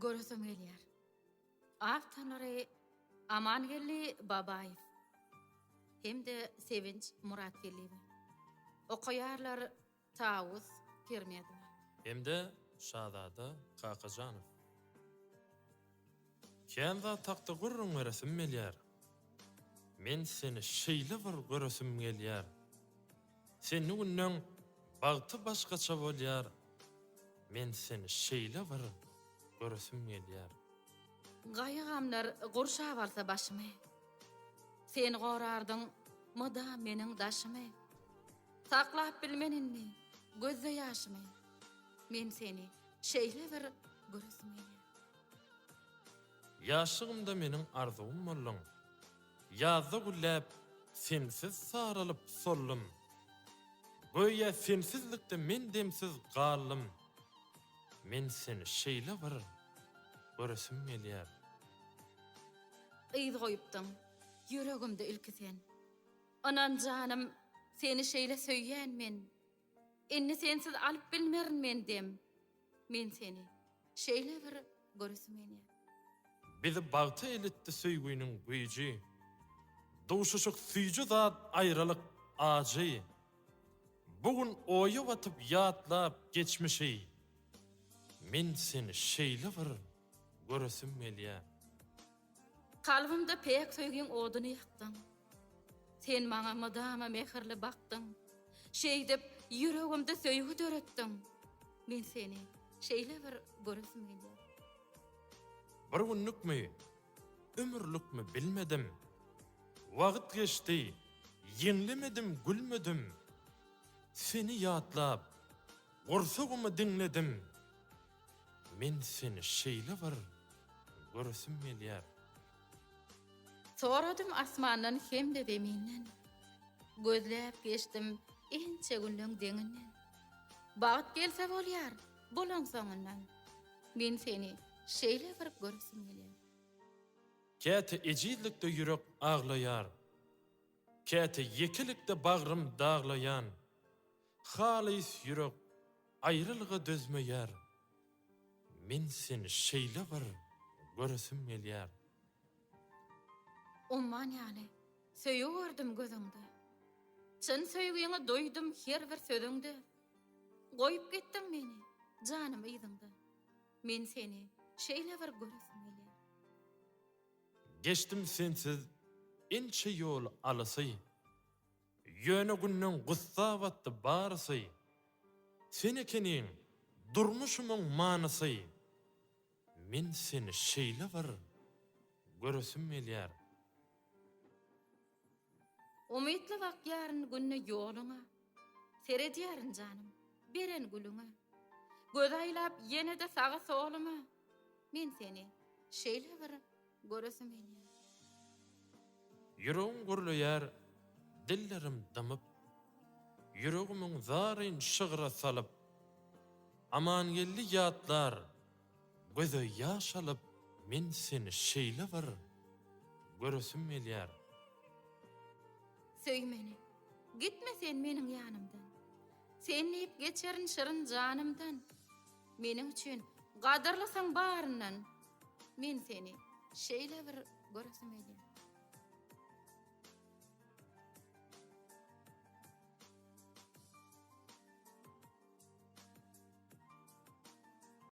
Göresim gelýär. Awtorlary Amangeldi Babaýew hem-de Sevinç Muratgeldiýewa. Okaýarlar Tawus Pirmedowa. Hem-de Şazada Kakajanow. Kän zat hakda gürrüň beresim gelýär. Men seni şeýle bir göresim gelýär. Senli günleň bagty başgaça bolýar men seni şeýle bir göresim gelýär. Gaýgy-gamlar gurşap alsa başymy. Sen gorardyň mydam meniň daşymy. Saklap bilmen indi gözde ýaşymy. Men seni şeýle bir göresim gelýär. Ýaşlygymda meniň arzuwym bolduň. Ýazda gülläp, sensiz saralyp soldum. Göýä sensizlikde men demsiz galdym. Men seni şeýle bir göresim gelýär. Yz goýupdyň ýüregimde ilki sen. Ynan janym, seni şeýle söýýän men. Indi sensiz alyp bilmerin men dem Men seni şeýle bir göresim gelýär. Bizi bagta elitdi söýgüniň güýji Duşuşyk süýji zat aýralyk ajy Bu gün oýa batyp ýatlap geçmişi Men seni şeýle bir Göresim gelýär. Kalbymda päk söýgiň oduny ýakdyň. Sen maňa mydama mähirli bakdyň. Şeýdip, ýüregimde söýgi döretdiň. Men seni şeýle bir göresim gelýär. Bir günlükmi, ömürlikmi bilmedim. Wagt geçdi, ýeňlemedim, gülmedim. Seni ýatlap, gursagymy diňledim. Men seni şeýle bir göresim gelýär. Soradym asmandan hem-de zeminden. Gözläp geçdim ençe günleň deňinden. Bagt gelse bolýar, bolaň soňundan. Men seni şeýle bir göresim gelýär. Käte ejizlikde ýürek aglaýar. Käte ýekelikde bagrym daglaýan. Halys ýürek aýrylga dözmeýär, Men seni şeýle bir göresim gelýär. Umman ýaly söýgi gördüm gözüňde, Çyn söýgiňi duýdum her bir sözüňde, Goýup gitdiň meni, janym yzyňda, Men seni şeýle bir göresim gelýär. Geçdim sensiz ençe ýol alysy, Ýöne günden gussa batdy barysy, Sen ekeniň durmuşymyň manysy. Men seni şeýle bir göresim gelýär. Umytly bakýaryn günde ýoluňa, Seredýärin janym, beren gülüňe. Göz aýlap ýene-de saga-soluňa, Men seni şeýle bir göresim gelýär. Ýüregim gürleýär, dillerim dymyp. Ýüregimiň zaryn şygra salyp. Amangeldi ýatlar, göze ýaş alyp. Men seni şeýle bir göresim gelýär. Söý meni, gitme sen meniň ýanymdan. Sen diýip geçerin şirin janymdan. Meniň üçin gadyrlysyň baryndan men seni şeýle bir göresim gelýär.